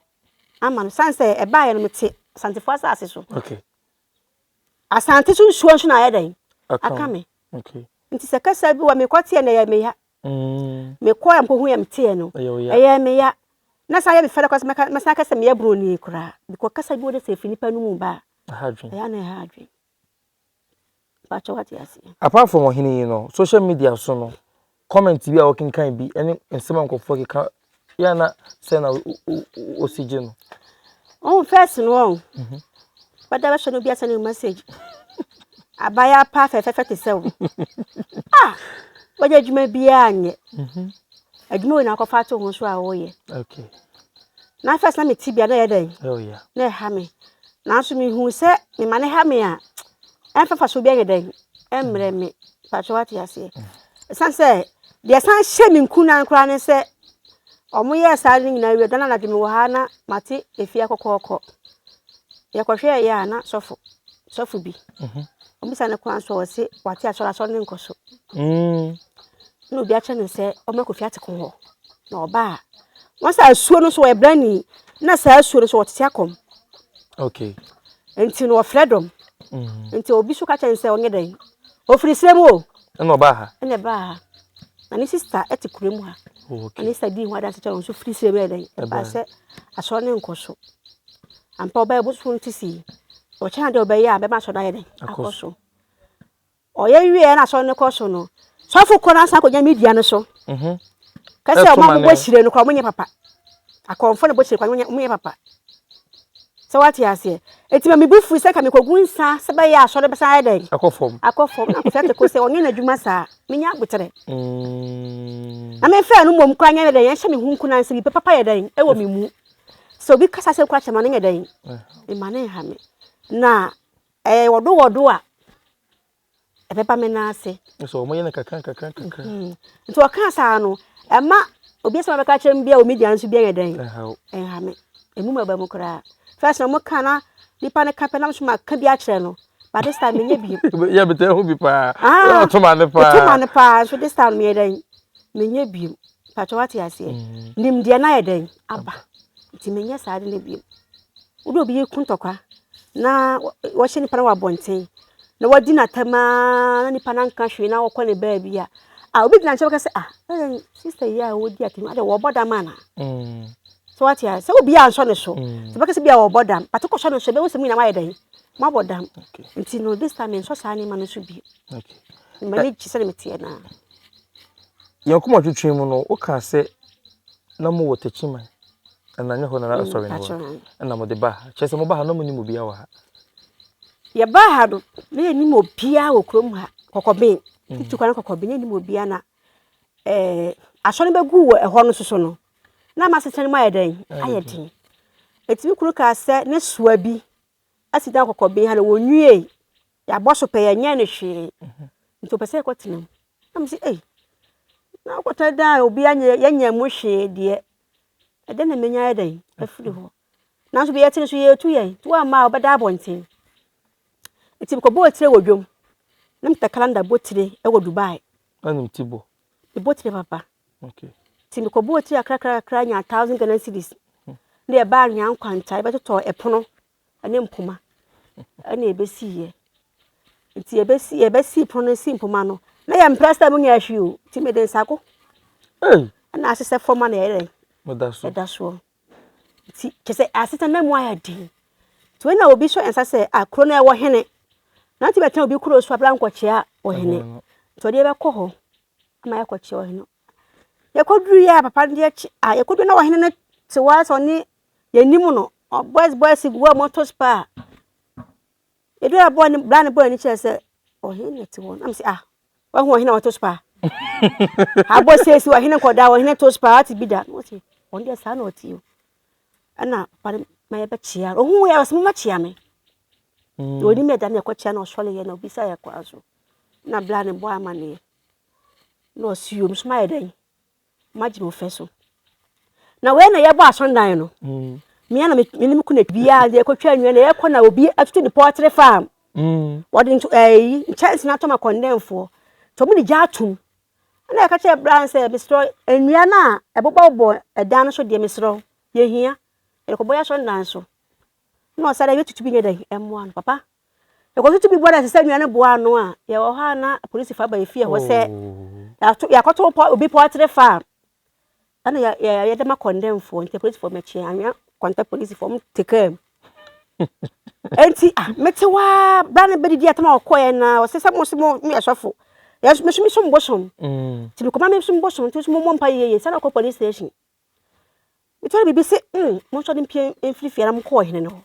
Ama no. San sɛ ɛbaeɛ no mete Asantefoɔ asase so. Okay. Asante so nsuo nso na ayɛ dɛn? Aka me. Okay. Nti sɛ kasa bi wɔ mekɔteɛ na ɛyɛ meya. Me kɔɔ mpo ho yɛ me teɛ no ɛyɛ me ya na saa yɛ me fɛ dɛ kɔsɛ mɛka mɛsan kɛsɛ meyɛ broni koraa because kasa bi wɔ dɛ sɛ efiri nipa no mu ba a ɛyɛ na ɛha adwene baakyɛ wate aseɛ. Apart from ɔhene yi no social media so no comment bi a wɔkenkan bi ɛne nsɛm a nkorɔfoɔ keka Yɛ na sɛ na osi gye no. Ɔn fɛs no ɔn. Bɛda bɛhyɛ no bia sɛ no message. Abaya pa fɛfɛfɛ te sɛ wo. Ah! Wagye adwuma biara nyɛ. Mhm. Adwuma wei na akɔfa ato ho so a woyɛ. Okay. Na fɛs na me ti bia na yɛ dɛn? Oh yeah. Na ɛha me. Nanso mehu sɛ me ma ne ha me a. mfafaso bi ayɛ dɛn mmerɛ me pakyɛ wate aseɛ ɛsan sɛ deɛ ɛsan hyɛ me nkunan koraa ne sɛ ɔmo yɛ saa no nyinaa wie dana anadwo me wɔ ha na mate efie akɔkɔɔkɔ yɛkɔhwɛ yɛ a na sɔfo sɔfo bi mhm. ɔmo bisa ne kwan so ɔse wate asɔre asɔre ne nkɔ so mm. na obi akyerɛ no sɛ ɔmo akɔfi ate ko hɔ na ɔbaa wɔn sɛ asuo no so ɛbrɛ ni na saa asuo no so ɔtete akɔm okay Nti no ɔfrɛ dɔm. Nti obi so ka kyerɛ no sɛ ɔnyɛ dɛn? Ɔfiri serɛ mu o. Ɛna ɔbaa ha. Ɛna ɛbaa ha. Na ne sista te kura mu ha. Na ne sista dii ho adanse kyerɛ no nso firi serɛ mu yɛ dɛn? Ɛbaa sɛ asɔre no nkɔ so. Ampa ɔbaa ɛboso no ti sii. Ɔkyɛ na deɛ ɔbɛyɛ a bɛma asɔre no ayɛ dɛn? Akɔ so. Ɔyɛ wie a na asɔre no kɔ so no, sɔfo kɔ na san kɔgyina me dua no so. Mhm. Ka sɛ wɔn a wɔbɔ hyire no kora wɔnyɛ papa. Akɔmfo na bɔ hyire kora wɔnyɛ wɔnyɛ papa. Sɛ wate aseɛ. Eti ma me bu fui sɛ nka mekɔgu nsa sɛ bɛyɛ asɔre bɛsan ayɛ dɛn? Akɔ fam. Akɔ fam. Na Kofi Ateko sɛ ɔnyɛ n'adwuma saa. Menya aboterɛ. Mm. Na memfɛɛ no mmom koraa nyɛ ne dɛn ɛnhyɛ me ho nkunan sɛ biribi papa yɛ dɛn ɛwɔ me mu. Sɛ obi kasa sɛ koraa kyɛ ma no nyɛ dɛn. Ɛma no nha me. Na Ɛyɛ wɔdowɔdo a ɛbɛba me nan ase. Kyerɛ sɛ wɔyɛ no kakrankakra. Nti ɔkaa saa no, ɛma obi asɛm a ɔbɛka akyerɛ me biara wɔ media no so biara nyɛ dɛn? Ɛnha me. Emu ma ɛba mu koraa. First na wɔka na nipa no ka pɛ na nso maka bi akyerɛ no. But this time menyɛ bi. Yɛ me tɛ ho bi paa. Ah, ɔto ma no paa. Ɔto ma no paa. So this time meyɛ dɛn? Menyɛ bi. Patwa wate aseɛ. Nimdeɛ no ayɛ dɛn? Aba. Nti menyɛ saa de no bi. Wode obi reku ntɔkwa na wahyɛ nipa no wɔ abɔnten na wadi no atɛm ara na nipa no anka hwee na ɔkɔ ne baabi a, a obi gyina nkyɛn bɛka sɛ, ah, na yɛn sista yi a wɔdi atɛm yi, ade wɔbɔ dam ana? Mm. So wate a, sɛ obi ansɔ ne so, mm. sɛ bɛka sɛ bi a wɔbɔ dam, but wokɔsɔ ne so, bɛhu sɛ mu nyinaa moayɛ dɛn? Moabɔ dam. Nti no, this time mensɔ saa nneɛma no so bi. M'ani gye sɛdeɛ meteɛ no a. Yɛn koma twetwe mu no, wokaa sɛ na mowɔ takyiman. Ɛna nyɛ hɔ na na asɔre no wɔ. Ɛna mo de ba ha. Kyerɛ sɛ mo ba ha na mo nim obiara wɔ ha. Yɛ ba ha no na yɛ nim obiara wɔ kurom ha kɔkɔben. Mm. Tutu kwan kɔkɔben yɛ nim obiara na ɛɛ eh, asɔre bɛ gu wɔ ɛhɔ no soso no. Na ma sesɛn mu ayɛ dɛn ayɛ den. Etimi kuro kaa sɛ ne soa bi asi dan kɔkɔben ha na wɔn nwie. Yabɔ so pɛ yɛ nyɛ ne hwee. Mhm. Nti ɔpɛ sɛ ɛkɔ tenam. Na mo si ei. Na ɔkɔtɛ dan a obiara nyɛ yɛ nyɛ mo hwee deɛ. Ɛdɛn na mɛnya ayɛ dɛn afiri hɔ? Nanso deɛ yɛte no so yɛretu yɛn nti woamma a wobɛda abɔnten. Nti mekɔbɔɔ tire wɔ dwam na meta kalanda bɔ tire wɔ Dubai. Anim ti bɔ. Mebɔ tire papa. Okay. Nti mekɔbɔɔ tire kakra kakra nyaa thousand Ghana cedis. Hmm. Na yɛbaa anwea nkwanta yɛbɛtotɔ ɛpono ne mpoma na ɛbɛsiiɛ. Nti yɛbɛsi yɛbɛsi pono no si mpoma no na yɛmpɛ sɛ ɛmu nyɛ hwee o, nti mede nsa ko na asesɛ fam a na ɛyɛ dɛn? Ɛda so. Ɛda soɔ. Nti kyɛ sɛ asetena na mu ayɛ den. Nti wei na obi sɔ yɛn nsa sɛ a kuro no ɛwɔ hene. Na nti bɛtena obi kuro so abira nkɔkyea ɔhene. Nti ɔde yɛbɛkɔ hɔ ama yɛakɔkyea ɔhene. Yɛkɔduru yɛ a papa no deɛ kye a yɛkɔduru na ɔhene no te hɔ ara sɛ ɔne yɛnim no, ɔbɔs bɔs gu hɔ moto spa a, ɛduru a bɔɔ ne bra ne bɔɔ ani kyerɛ sɛ ɔhene na ɛte hɔ na mesɛ ah wahu ɔhene a ɔto spa abɔ sɛsi ɔhene nkɔda ɔhene to spa ate bi da na ɔse ɔno deɛ saa na ɔte o ɛna papa no ma yɛbɛkyea ɔhu yɛ ɔsɛ mobɛkyea me mm. na ɔnim ɛda ne ɛkɔkyea na ɔsɔre yɛ na ɔbisa yɛ kwan so na bra ne bɔ amaneɛ na ɔse yom so mayɛ dɛn magye mo fɛ so na wei na yɛbɔ asɔndan no mm. mmea na mene me kuna biaa deɛ ɛkɔtwa nnwa na yɛkɔ na obi atutu ne pɔɔtere farm mm. wɔde ɛyi nkyɛnse no atɔm akɔndɛnfoɔ nti ɔmo de gya atom ɛna yɛka kyerɛ bra sɛ meserɛ nnua no a ɛbobɔbobɔ ɛdan no so deɛ meserɛ yɛhia yɛkɔbɔ yɛ asɔndan so na ɔsa dɛ yɛtutu bi nyɛ dɛn ɛmmoa no papa Yɛkɔ so tumi bɔ dase sɛ nua no boa ano a, yɛwɔ hɔ a na polisifo aba yɛn fie hɔ sɛ oh. yɛakɔto obi pɔɔtere fa a, ɛna yɛ, yɛ, yɛde ma kɔndɛmfoɔ nti polisifo mɛkye anwea kɔntɛ polisifo ɔmo te kaa mu. Enti ah, mete hɔ ara bra no bɛdidi atam a ɔkɔɛ na ɔsɛ sɛ mo so mo yɛ sɔfo. Yɛn meso mesom bosom. Mm. Nti mekɔma mesom bosom nti so mo mmɔ mpa yie yie sɛ na ɔkɔ police station. Metɔre biribi se mm, mo nso de mpie mfiri fie na mo kɔɔ hene no hɔ.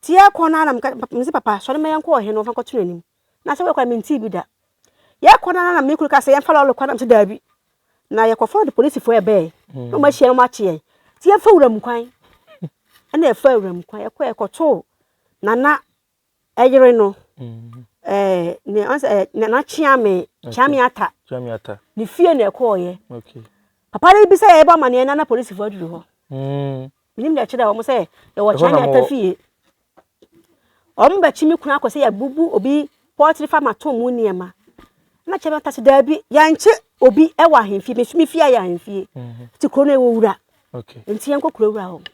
Ntsi yɛkɔ no ara na medze papa sɔre ma yɛnkɔ ɔhen no wɔmfa nkɔto n'enyim, na asɛm a ɔrokɔ no mentsee bi da. Yɛkɔ no ara na me kun kaa sɛ yɛmfa lɔɔre kwan na mese daabi, na yɛkɔfɔr do polisifo a wɔbɛɛe na wɔahyia hɛn na wɔakye hɛn. Ntsi yɛmfa wuram kwan na yɛfaa wuram kwan, yɛkɔe yɛkɔtoo Nana yere no, ɛɛ nea ɔno sɛ Nana Kyeame, Kyeame Atta, Kyeame Atta, ne fie na yɛkɔɔeɛ. Papa no bisa yɛn yɛbɔ amanneɛ no na polisifo aduru hɔ. Menim deɛ ɛkyerɛ wɔn sɛ yɛwɔ Ɛhɔ na Kyanya mowɔ. Tafie. Wɔn bɛkyi me kunu akɔ sɛ yɛbubu obi pɔtiri fa ma to mu nneɛma. Na kyerɛ me ta sɛ daabi yɛnkye obi wɔ ahemfie me nso me fie ayɛ ahemfie. Nti kuro no ɛwɔ wura Okay. nti yɛnkɔ kuro wura hɔ.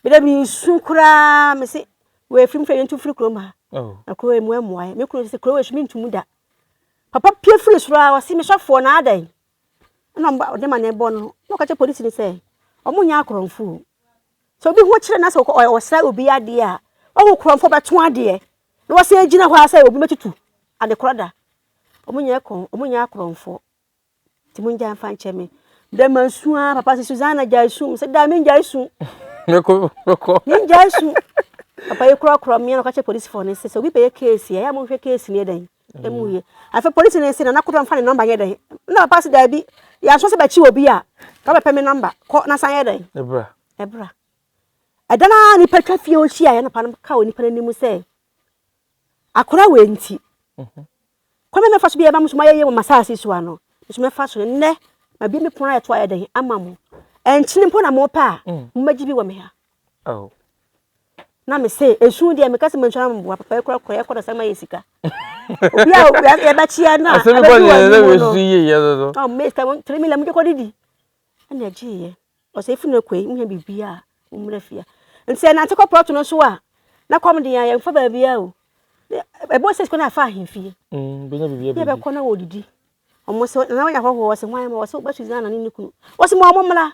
Mede mesu koraa me se wɔafiri mfiri yɛntu mfiri kuro mu ha. Oh. Na kuro emu ɛmmoa yɛ. Me kunu sɛ kuro wɔ su mentu mu da. Papa pie firi soro a ɔse mesɔfoɔ na adɛn. Ɛna ɔmo ba ɔde ma ne bɔ no na ɔka kyerɛ polisi no sɛ ɔmo nyɛ akorɔmfo o. Sɛ obi ho kyere no na sɛ ɔkɔ ɔyɛ ɔsra obi adeɛ a wahu korɔmfo bɛto adeɛ na wasan agyina hɔ ara sɛ obi bɛtutu ade korɔ da. Ɔmo nyɛ kɔn ɔmo nyɛ akorɔmfo nti mo ngyae mfa nkyɛ me. Dɛ ma nsu ara papa sɛ Susanna gyae su sɛ daa me ngyae su. Mekɔ mekɔ. Me ngyae su. Papa yi korɔ korɔ me na ɔka kyerɛ polisifoɔ no sɛ sɛ obi bɛyɛ keesi a ɛyɛ a mo nhwɛ keesi no yɛ dɛn. Emu ye. Afei polisi no se Nana Koto mfa ne number nyɛ dɛn? Nna papa se daabi, yɛanso sɛ bɛkye obi a, ka bɛpɛ me number, kɔ na san yɛ dɛn? Ɛbra. Ɛbra. Ɛda no ara nipa twa fie hɔ hyiaeɛ na papa no ka wɔ nipa no anim sɛ akora wei nti mhm. kwan bɛ mɛfa so bi a ɛma mo so moayɛ yie wɔ masaase so ano me so mɛfa so nnɛ mabie me pono ayɛ to ayɛ dɛn ama mo ɛnkyene mpo na mopɛ a mm. momɛgye bi wɔ me ha Oh. Na me se esu deɛ meka sɛ mentwa mboa papa ekura kɔ yɛkɔ na sɛ ma yɛ sika. Obi a yɛbɛkyea no a abɛdi wɔn anim no. Asɛm kɔ na esu yie yɛ no no. Ɔn mɛ sika tiri mi la mo de kɔ didi. Ɛna gye yɛ. Ɔsɛ efi na kɔ yi mo yɛ bibi a mo mmerɛ fia. Nti ɛnante kɔ pɔtɔ no so a na kɔm de yɛn fa baabi a o. Ɛbɔ sɛ sika na afa ahemfie. Mm bɛnya bibi a bibi. Yɛbɛkɔ na wɔdidi. Wɔn sɛ na wɔn yɛ ahɔhoɔ wɔsɛ wɔn ayɛ ma wɔsɛ wɔbɛtu Ghana ne ne kunu. Wɔsɛ mo a wɔn mmra.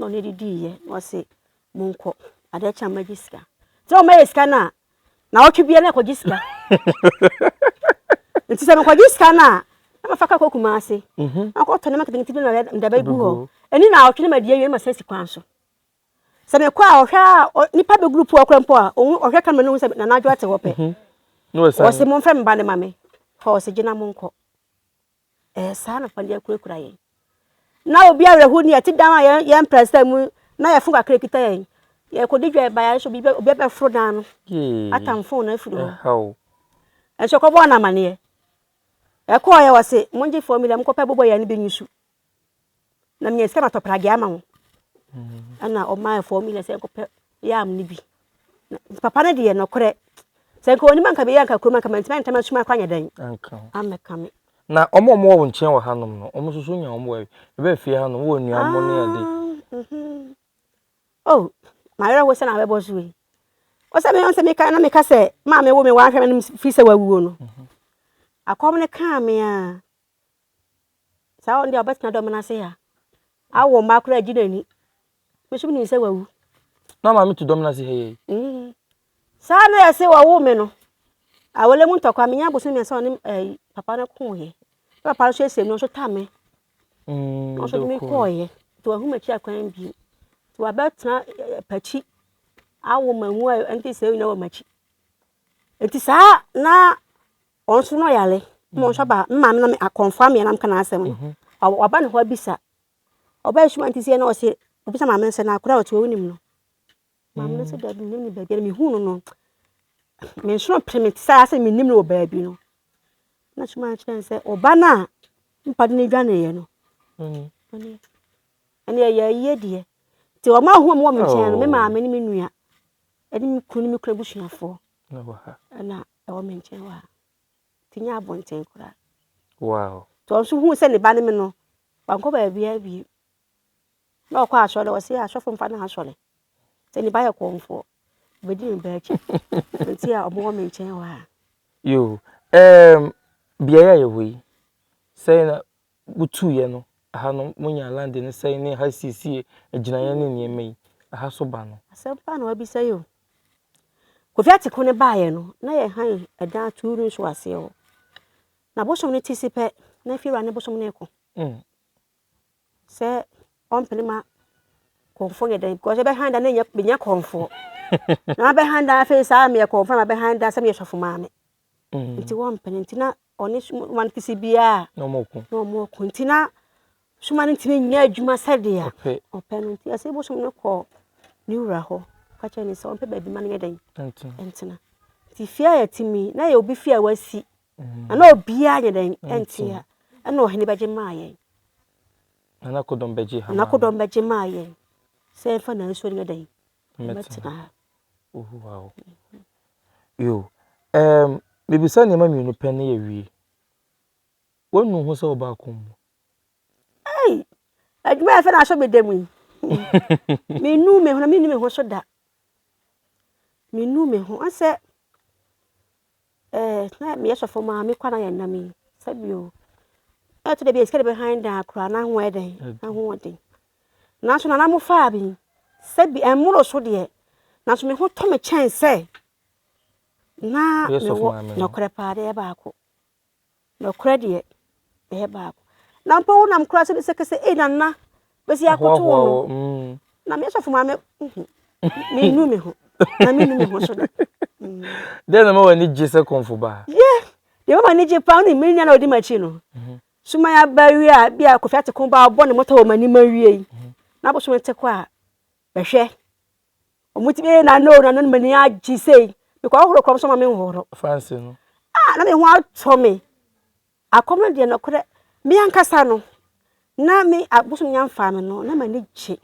Na ɔno de diiɛ na ɔse monkɔ adeɛ kye a magye sika sɛ wɔmɛyɛ sika no a na ɔtwe bia na ɛkɔgye sika nti sɛ mekɔgye sika no a na mafa ka kɔ kuma ase mhm. na kɔtɔ nneɛma ketenkete bi na mede bɛgu hɔ mhm. ɛni na ɔtwe no ma die wie na masan si kwan so sɛ mekɔ a ɔhwɛ a nipa bɛ group ɔkora mpo a ɔhwɛ kamera no ho sɛ nanadwo ate hɔ pɛ mhm. ɔse momfrɛ me ba ne ma me hɔ ɔse gyina monkɔ Ɛyɛ saa na ɔfa de akurakura yɛn. Na obi awerɛho ni ɛte dan a yɛn yɛn mpɛnsɛn mu na yɛ fon kakra kita yɛn. Yɛkɔdi dwa ɛba yɛn so obi obi abɛforo dan no. Atam fon no afiri hɔ. Ɛnso kɔbɔɔ no amaneɛ. Ɛkɔɔ yɛ wɔ se mongye fɔmila mokɔpɛ bobɔ yɛn no bi nyi so. Na meyɛ sɛ matɔ pragea ama wɔn. Ɛna ɔmaa four million sɛ nkɔpɛ yam no bi. Na papa no deɛ nɔkorɛ. Sɛ nka onim anka bɛyɛ anka kurom anka mantumi antam asuma akɔ anyɛ dɛn. Amɛka me. Na wɔn a wɔwɔ wo nkyɛn wɔ hanom no, wɔn nso so nya wɔn wɔ ɛbɛ fie hanom wɔ nnuan mo ne ade. Ah, mhm. Oh, mayerɛ ho sɛ na abɛbɔ so yi. Ɔsɛ me ɔsɛ meka na meka sɛ maame wo me wahwɛ me no fi sɛ wawuo no. Mhm. Akɔm no kaa me a. saa ɔno deɛ ɔbɛtena dɔm no ase ha awo mma koraa agye n'ani me nso menim sɛ wawu na maame to dɔm no ase ha yɛi mm. saa na yɛse wɔwo me no awɔlɛ mu ntɔkwa menya boso mmiɛnsa ɔne eh, papa no koeɛ na papa no so asiam no ɔso ta me mm, ɔso de me kɔeɛ nti wahu makyi akwan bio nti wabɛtena eh, eh, pakyi awo ma mu a ɛnte sɛ nyina wɔ makyi nti saa na Wɔn nso na ɔyare ma wɔn nso aba me maame na me akɔnfa me nam ka n'asɛm no mhm. waba ne hɔ abisa ɔba esu anti sɛ na ɔsi obisa maame no sɛ na akora a ɔte hɔ wonim no maame no sɛ mm. dabi nim ne baabi na mehu no no me nsono pere me saa sɛ menim no wɔ baabi no na suma akyerɛ no sɛ ɔba no a mpade no dwaneeɛ no mm. ɛne ɛyɛ ayie deɛ nti wɔn ahoɔ mu wɔ me nkyɛn no me oh. maame ne me nua ɛne me kunu ne me kunu abusuafoɔ ɛna Ɛwɔ me nkyɛn hɔ a, ti nyɛ abɔnten koraa. Wow. Nti ɔno nso hu sɛ ne ba ne me no, wankɔ baabiara bio. Na ɔkɔ asɔre, ɔse asɔfo mfa no asɔre. Sɛ ne ba yɛ kɔmfoɔ, obɛdi ne ba akyi. Nti a ɔmowɔ me nkyɛn hɔ a. Yo, um, beaeɛ a yɛwɔ yi, sɛ na Wotuiɛ no, ɛha no monyaa lande no sɛe ne ɛha siesie agyinaeɛ ne nneɛma yi, ɛha so ba no. Asɛm paa na wabisa yi o. Kofi Atiko no baeɛ no, na yɛhan ɛdan atuu no nso aseɛ hɔ. Na bosom no ti si pɛ, na afiewura ne bosom no reko. Mm. Sɛ ɔmpene ma kɔnfoɔ nyɛ dɛn, because ɛbɛhan da na ɛnyɛ menyɛ kɔnfoɔ. na mabɛhan da afei saa meyɛ kɔnfoɔ na mabɛhan da sɛ meyɛ sɔfo maame. Nti wɔmpene nti na ɔne soma no kisi biara a na wɔko na wɔko nti na soma no ntumi nyɛ adwuma sɛdeɛ ɔpɛ no nti ɛsɛ bosom no kɔ ne wura hɔ ka kyerɛ ne sɛ ɔmpɛ baabi ma no yɛ dɛn ntena nti fie a yɛte mi na yɛ obi fie a wasi mm. na na obiara nyɛ dɛn ntia ɛna ɔhene bɛgye maa yɛn nanakodɔm bɛgye ha nanakodɔm bɛgye maa yɛn sɛ ɛmfa na nsuo no yɛ dɛn Mɛtena hɔ. Ohu ha o. Yo, ɛɛm, mebisa nneɛma mmienu pɛ na yɛawie. Woanu ho sɛ wobaa kɔn mu? Ei! Adwuma a ɛfɛ na asɔ me da mu yi. Menu me ho na menni me ho so da. Menu me ho. Ɔsɛ Ɛɛ, na meyɛ sɔfo maa me kɔ na yɛn nam yi sɛbi o. Ɛɛ, to de bi sika de bɛ hann dan akora na ho yɛ dɛn na ho ɔden. Nanso nana mo faa bi sɛbi ɛmmoro so deɛ nanso me ho tɔ me kyɛn sɛ na mewɔ nɔkorɛ paa deɛ baako. Nokorɛ deɛ, meyɛ baako. Na mpo wonam koraa sɛ sɛ kɛsɛ ei Nana bɛsi akoto wo no, na me sɔfo maame menu me ho, na menu me ho so da. Dɛn na ma w'ani gye sɛ kɔmfo baa? Yɛ, deɛ ma m'ani gye paa ne me nua na ɔdi m'akyi no. Suma yɛ aba wie a, bi a Kofi Ateko baa ɔbɔ ne mmɔtɔ wɔ m'anim awie yi, na bosome te kɔ a, Bɛhwɛ, wɔtumi yɛ nana o, nana no m'ani agye sei, mekɔhohoro kɔm so ma menhohoro. Fa nsi no. Ah, na me ho atɔ me. Akɔm no deɛ nɔkorɛ, me ankasa no, na me abosom nya mfaa me no, na m'ani gye.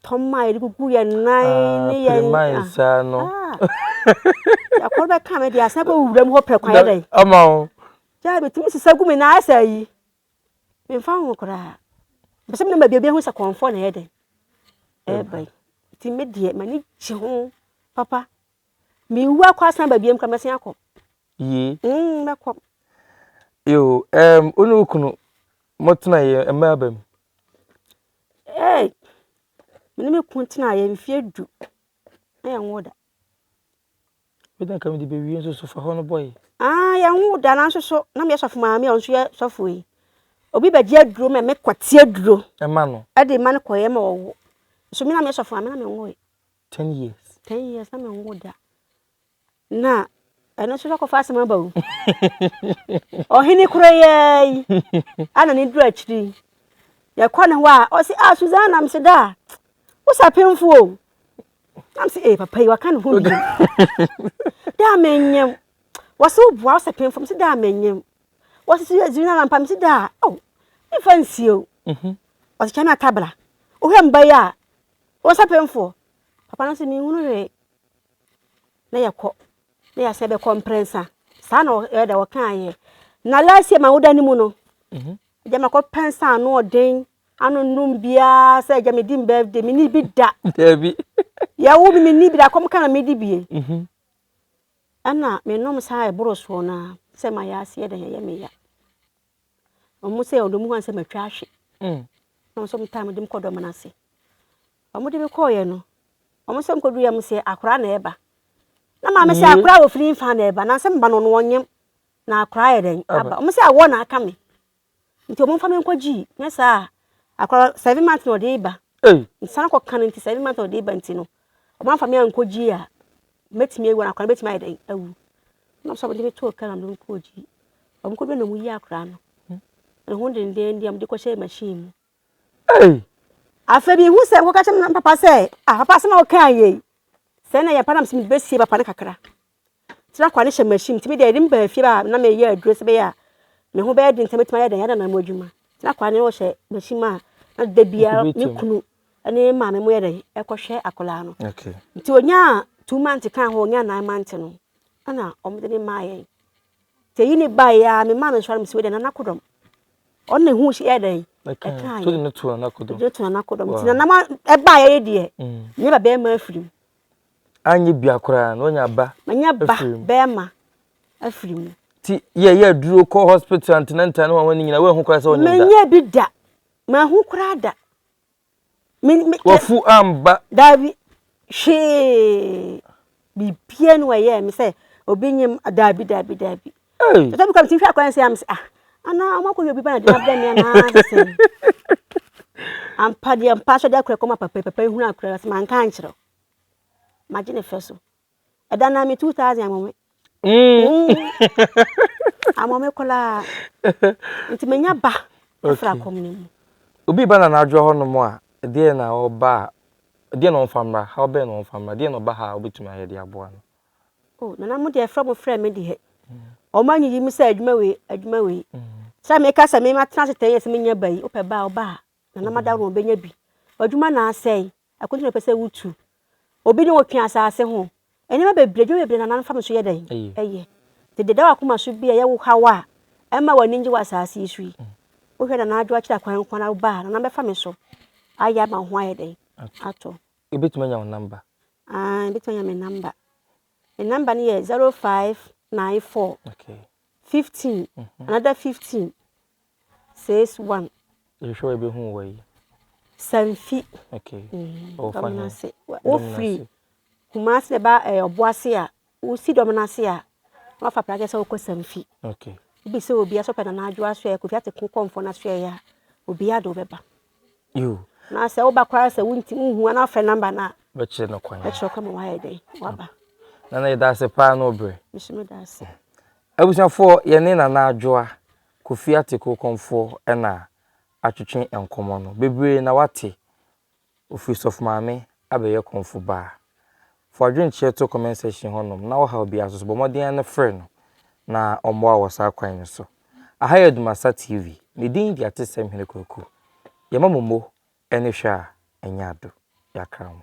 Tɔm a yɛde gugu yɛn nan ne yɛn. Pirima yi saa no. Akɔm no bɛka me deɛ, asan bɛwura mu hɔ prɛko ayɛ dɛn. Ama wo. Gyaa metumi sisa gu me nan ayɛ sɛ ayi. Memfa ho koraa. Mepɛ sɛ menya baabi a obi ahu sɛ kɔmfoɔ na ɛyɛ dɛn? Ɛreba yi. Nti me deɛ, m'ani gye ho papa. Mewu akɔ asan aba biam koraa, mɛsan akɔ. Yie. Mm, mɛkɔ. Yo, um, wo ne wo kunu motenaeɛ mma aba mu? Hey, me ne me kun tenaeɛ mfeɛ du. Ɛyɛ nwo da. Ebia anka mede bɛwie nso so fa hɔ no bɔe. Ah, yɛnwoo da nanso so na meyɛ sɔfo maame a ɔno nso yɛ sɔfo yi. Obi bɛgye aduro ma me kɔte aduro. Ɛma no. Ɛde ma no kɔyɛ ma ɔwo. So me na meyɛ sɔfo maame na menwoe. Ten years. Ten years na menwo da. Na ɛno nso sɛ kɔfa asɛm aba o. Ɔhene koro yɛɛ yi. Ana ne duru akyiri. Yɛkɔ ne hɔ a, ɔse, ah, Susanna, mese da. Wosa pemfo o. na m sɛ ee papa yi waka ne ho bio dɛ a menyem wɔse woboa wo sɛ pemfam sɛ dɛ a menyem wɔse so yɛdzi no anampa mese dɛ a oh memfa nsie o mhm. wɔse kyɛ me atabra wohwɛ mba yi a wɔn sɛ pemfoɔ papa no sɛ menhunu hwee na yɛkɔ na yɛasɛ bɛkɔ mprɛnsa saa na ɛyɛ dɛ wɔkaeɛ na last year ma woda no mu no mhm. gyama kɔpɛ nsa ano ɔden Ano nnum biara sɛ agya medi m birthday menni bi da. Dabi. Yɛwo me menni bi da kɔm ka na medi bie. Mhm. Ɛna menom saa a ɛboro soɔ no ara sɛ ma yɛ aseɛ dɛn ɛyɛ me ya. Ɔmo sɛ ɔdɔ mu hɔ sɛ matwa ahwe. Mm. Na ɔmo sɛ ɔmo taa mede me kɔ dɔm no ase. Ɔmo de me kɔɔyɛ no ɔmo sɛ ɔmo kɔdu yɛ ɔmo sɛ akora na ɛba. Na maame sɛ akora wɔ firi nfa na ɛba na sɛ meba no ɔno ɔnyem na akora yɛ dɛn aba. Ɔmo sɛ awɔ na aka me. Nti ɔmo nfa me nkɔ gyii nyɛ saa a akɔra seven months na ɔde ba nsan kɔ kan nti seven months na ɔde ba nti no ɔmo anfa me ankɔ gyii a mɛtumi awu akɔra no bɛtumi ayɛ dɛn awu na ɔmo sɛ ɔmo de me too kan ɔmo de me kɔ gyii ɔmo kɔ duro na ɔmo yi akɔra no ne ho dendenden ɔmo de kɔ hyɛ machine mu afɛ bi ihu sɛ nkɔ kakyɛ me papa sɛ ah papa asɛm a ɔka yɛ yi sɛ na yɛ pa na mo sɛ mo de bɛsie papa no kakra. tra kwa no hyɛ machine ti mi deɛ ɛde mi baa fie baa na mi yɛ aduro sɛbɛyɛ a mi ho bɛyɛ den sɛ mi tuma yɛ dɛn yɛ dɛn na mo adwuma tra kwa no hyɛ machine mu a na da biara mi kunu ɛne maame mo yɛ dɛn ɛkɔ hwɛ akwadaa no nti onyaa two months kan hɔ onyaa nine months no ɛna wɔn de ne maa yɛn te yi ne ba yɛ a mi maa no nsɔre mi si wɔ dɛn nana kodɔm ɔno na ehu yɛ dɛn ɛka yɛ ɛde to nana kodɔm ti nana ɛba yɛ yɛ deɛ ne ba bɛrima afiri mu. Anyɛ bia koraa na wanya ba. Manya ba bɛrima afiri mu. Ti yɛ yɛ duro kɔ hospital antinanta ne wɔn nyina wɔn ho koraa sɛ wɔn nyina. Manya bi da ma ho koraa da. Wɔfu amba. Daabi hwee bibia ne wɔyɛ me sɛ obi nyim daabi daabi daabi. Hey. Tata mi kɔ mi ti hwɛ akɔyɛ nsɛ am sɛ ah ana ɔmo akɔ yɛ obi ba na de ma brɛ mi anaa sɛ ampa deɛ mpa so de akora kɔma papa papa ehunu akora sɛ manka ankyerɛ ma gye ne fɛ so ɛda na mi two thousand ama me ama me koraa nti menya ba afra kɔm ne mu obi ba na n'adwoa hɔ nom a deɛ na ɔba a deɛ na ɔmfa mmra how bɛn na ɔmfa mmra deɛ na ɔba ha a wobɛtumi ayɛ de aboa no Oh nana mo deɛ frɛ mo frɛ me deɛ wɔn anyiyi mi sɛ adwuma wei adwuma wei sɛ meka sɛ mema tena ase ten years menya ba yi wopɛ ba a ɔba a nana ma daworo ɔbɛnya bi adwuma na asɛe akonto na pɛ sɛ wotu obi ne wotwe asase ho nneɛma bebree adwuma bebree nana mfa me so yɛ dɛn ɛyɛ te deda wakoma so bi a yɛwo haw a ɛma w'ani ngye wɔ asase yi so yi wohwɛ nana adwo akyerɛ akwan kwan na woba a nana bɛfa me so ayɛ ama ho ayɛ dɛn atɔ Yɛbɛtumi anya wo namba? Aane, yɛbɛtumi anya me namba. Me namba no yɛ 0594 okay. 15 mm -hmm. another 15 61. Yɛhwɛ wɔ yɛbɛhu wɔ yi. Sanfi. Okay. Mm -hmm. Ɔwɔ fa he? Wofiri Kumasi na ɛba ɛyɛ ɔboase a Wosi dɔm no ase a, na wɔafa pragea sɛ wɔkɔ samfi. Wobisa obia sɛ ɔpɛ Nana Adwo asoɛeɛ, Kofi Ate Konkɔnfoɔ no asoɛeɛ a, obia de wo bɛba. Na sɛ woba koraa sɛ wonti wonhu a na wafrɛ namba no a. Bɛkyerɛ no kwan. Bɛkyerɛ kwan ma wayɛ dɛn waba. Nana yɛda ase paa na ɔbrɛ. Nso meda ase. Abusuafoɔ yɛne Nana Adwoa Kofi Ate Konkɔnfoɔ na atwetwe nkɔmmɔ no. Bebree na wate Ofiri sɔfo maame abɛyɛ kɔmfo baa. Fa w'adwenkyerɛ to comment section hɔnom na ɔhaw biara nso so, bɔ mmɔden ara na frɛ no na ɔmmoa wo wɔ saa kwan no so. Aha yɛ Dumasa TV, me din de Atesɛm Hene Kwaku. Yɛma mo mo ani hwɛ a, ɛnyɛ ado. Yɛakra mo.